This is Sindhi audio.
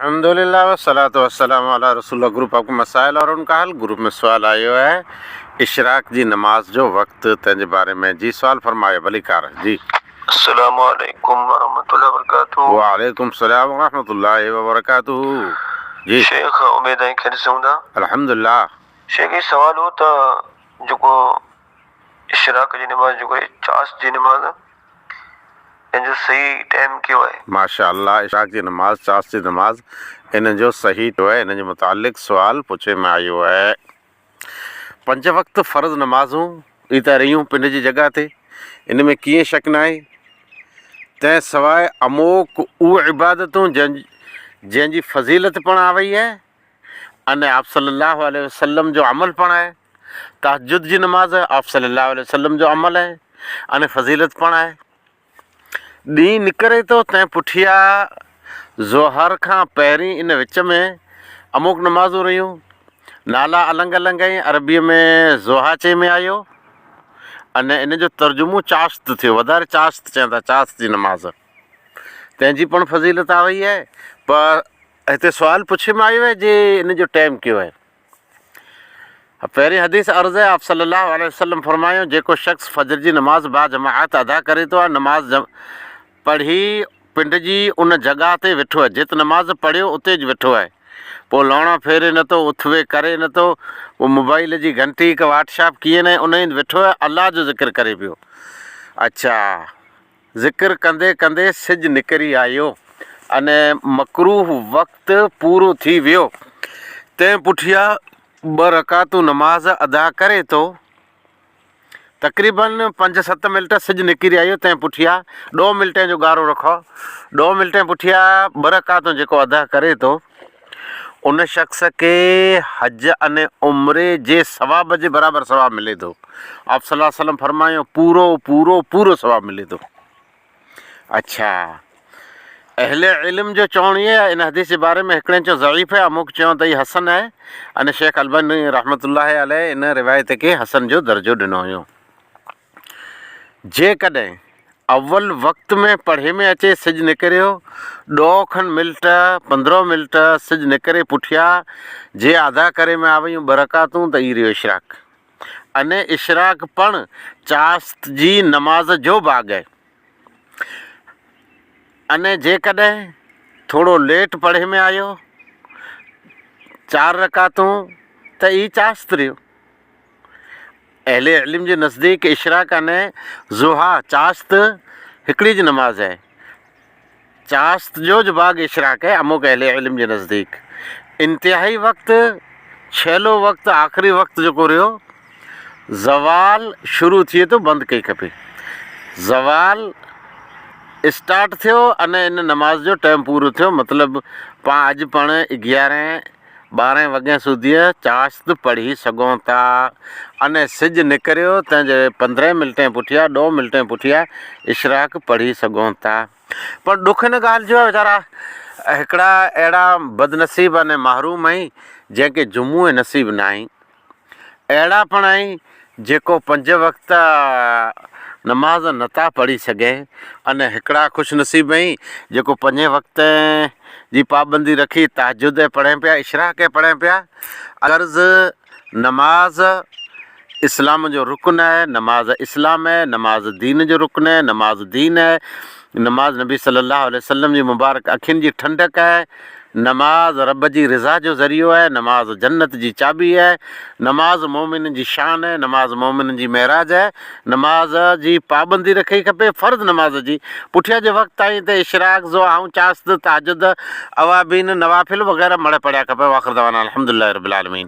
الحمدلله والصلوة والسلام علی رسول الله گروپ آف مسائل اور ان کا حل گروپ ۾ سوال آيو آهي اشراق جي نماز جو وقت تنهن جي باري ۾ جي سوال فرمايو ڀليڪار جي. السلام عليڪم ورحمة الله وبرڪاته. وعليڪم السلام ورحمة الله وبرڪاته جي. شيخ اميد آهي خيريت سان هوندا. الحمدلله. شيخ هي سوال هو ته جيڪو. اشراق جي نماز جو ڪري چاس جي نماز ۽ ان جو صحيح ٽيم ڪيو آهي. ماشاء الله اشراق جي نماز چاس جي نماز ان جو صحيح ٽيم ڪيو آهي ان جي متعلق سوال پڇي ۾ آيو آهي پنج وقت فرض نمازون ئي ته رهيون پنڊ جي جڳهه تي ان ۾ ڪيئي شڪ ناهي تنهن سواء اموڪ اهي عبادتون جن جنهن جي فضيلت پڻ آ وئي آهي ان آپصلّي اللّٰه عليه وسلّم جو عمل پڻ آهي. تهجد جي نماز آپ صلي الله عليه وسلم جو عمل آهي ۽ فضيلت پڻ آهي. ڏينهن نڪري ٿو تنهن پٺيان ظهر کان پهرين ان وچ ۾ اموڪ نمازون رهيون. نالا النگ النگ آهن، عربيء ۾ ضحا چئي ۾ آيو ۽ ان جو ترجمو چاشت ٿيو، وڌاري چاشت چون ٿا، چاشت جي نماز، تنهن جي پڻ فضيلت آهي وئي آهي، پر هتي سوال پڇي ۾ آيو آهي جي ان جو ٽيم ڪيو آهي؟ پهرين حديث عرض هي، آپ صلّي اللّٰه عليه وسلّم فرمايو، جيڪو شخص فجر جي نماز باجماعت ادا ڪري ٿو يا نماز جم پڙهي پنڊ جي ان جڳهه تي ويٺو آهي جت نماز پڙهيو اتي ئي ويٺو آهي پوء لوڻا ڦيري نه ٿو اٿوي ڪري نه ٿو پوء موبائيل جي گهنٽي هڪ واٽشاپ ڪيئن نه انهي هنڌ ويٺو آهي الله جو ذڪر ڪري پيو اڇا ذڪر ڪندي ڪندي سج نڪري آيو ۽ مڪروهه وقت پورو ٿي ويو. تنهن پٺيان ٻه رڪعتون نماز ادا ڪري ٿو. تقريباً پنج ست منٽ سج نڪري آيو تنهن پٺيان ڏهه منٽين جو ڳارو رکو. ڏهه منٽين پٺيان ٻه رڪعتون جيڪو ادا ڪري ٿو. ان شخص کي حج ۽ عمري جي ثواب جي برابر ثواب ملي ٿو. آپصلي الله عليه وسلم فرمايو، پورو پورو پورو ثواب ملي ٿو. اڇا! اهل علم جو چوڻ هي ته ان حديث جي باري ۾ هڪڙين چيو ضعيف هي، اموڪ چيو ته هي حسن آهي ۽ شيخ الباني رحمة الله عليه ان روايت کي حسن جو درجو ڏنو هيو. جيڪڏهن اول وقت ۾ پڙهي ۾ اچي سج نڪريو، ڏوهه کن ملٽ، پندرهو ملٽ، سج نڪري پٺيا، جي ادا ڪري ۾ آويون ٻه رڪعتون ته اي رهيو اشراق. اني اشراق پڻ چاشت جي نماز جو ڀاڳ اي. اني جيڪڏهن ٿورو ليٽ پڙهي ۾ آيو، چار رڪعتون، ته اي چاشت رهيو. اهل علم جي نزديڪ اشراق يعني ضحيٰ، چاشت، هڪڙي جي نماز آهي. چاشت جو جو باغ اشراق آهي اموڪ اهل علم جي نزديڪ انتهائي وقت، ڇهلو وقت، آخري وقت جيڪو رهيو زوال شروع ٿئي ٿو بند ڪئي کپي. زوال اسٽارٽ ٿيو ان ان نماز جو ٽيم پورو ٿيو مطلب پان اڄ پڙهڻ اگيارهين ٻارهين وڳين سوڌيء چاشت پڙهي سگهون ٿا. انهيء سج نڪريو، تنهن جي پندرهين منٽين پٺيان، ڏهون منٽين پٺيان اشراق پڙهي سگهون ٿا. پر ڏک ان ڳالهه جو آهي ويچارا هڪڙا اهڙا بدنصيب ۽ محروم آهي، جنهن کي جمعو ئي نصيب ناهي. اهڙا پڻ آهن جيڪو پنج وقت نماز نٿا پڙهي سگهين ان هڪڙا خوش نصيب آهن جيڪو پنجين وقتين جي پابندي رکي تهجد پڙهين پيا اشراق پڙهين پيا غرض نماز اسلام جو رڪن آهي نماز اسلام آهي نماز دين جو رڪن آهي نماز دين آهي نماز نبي صلي الله عليه وسلم جي مبارڪ اکين جي ٺنڊڪ آهي، نماز رب جي رضا جو ذريعو آهي، نماز جنت جي چاٻي آهي، نماز مؤمنن جي شان آهي، نماز مؤمنن جي معراج آهي، نماز جي پابندي رکڻي کپي، فرض نماز جي پٺيان جي وقت تائين ته اشراق، ضحاهون، چاشت، تهجد، اوابين، نوافل وغيره مڙهي پڙهيا کپن واخر دعوانا الحمدلله رب العالمين.